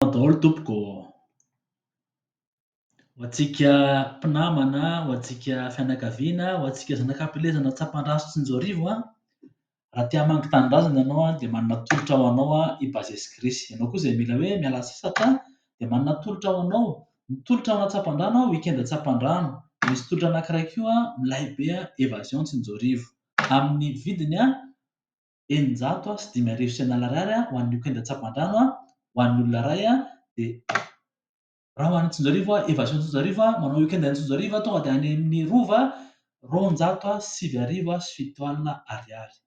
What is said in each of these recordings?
Misaotra daholo tompoko ô. Ho antsika mpinamana, ho antsika fianakaviana, ho antsika zanaka am-pilezana Tsapandraso sy Anjoarivo a, raha te hamangy tanindrazana ianao a dia manana tolotra ho anao a i Bases Chris. Ianao koa izay mila hoe miala sasatra a dia manana tolotra ho anao. Ny tolotra ao Tsapandrano a, Week-end Tsapandrano. Misy tolotra anankiray koa milay be a, Evasion Tsinjoarivo. Amin'ny vidiny a, eninjato sy dimy arivo sy an'ala ariary ho an'ny Oquenda Tsaboandrano ho an'ny olona iray dia raha ho any Antsonjarivo Evasion Antsonjarivo manao Oquenda any Antsonjarivo tonga dia any amin'ny Rova roanjato sy sivy arivo sy fito alina ariary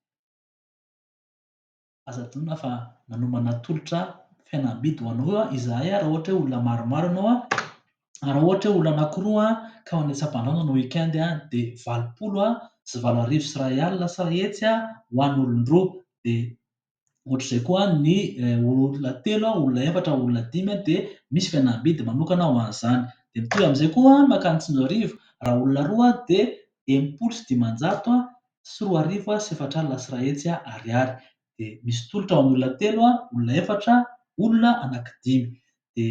aza adinona fa manomana tolotra fihenam-bidy ho anao izahay raha ohatra hoe olona maromaro ianao Raha ohatra hoe olona anankiroa ka mandeha an-tsampandrahona ny week-end dia valopolo sy valo arivo sy iray alina sa hetsy ho an'ny olon-droa. Dia ohatr'izay koa ny olona telo, olona efatra, olona dimy dia misy fihenam-bidy manokana ho an'izany. Dia mitovy amin'izay koa ny mankany Tsinjoarivo, raha olona roa dia enimpolo sy dimanjato sy roa arivo sy efatra alina sy iray hetsy Ariary. Dia misy tolotra ho an'ny olona telo, olona efatra, olona anankidimy. Dia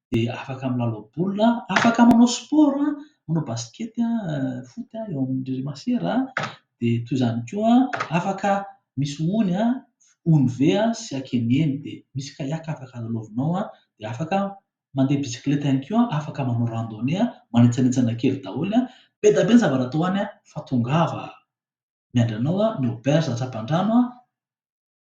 dia afaka milalao baolina, afaka manao sport, manao basket, foot eo amin'ireny masera, dia toy izany koa afaka misy ony, ony ve sy aken'eny, dia misy kayak afaka lalaovinao, dia afaka mandeha bisikileta ihany koa, afaka manao randonnée, manetsanetsana kely daholo, be dia be ny zavatra atao any fa tongava miandry anao ny auberge Antsahapandrano.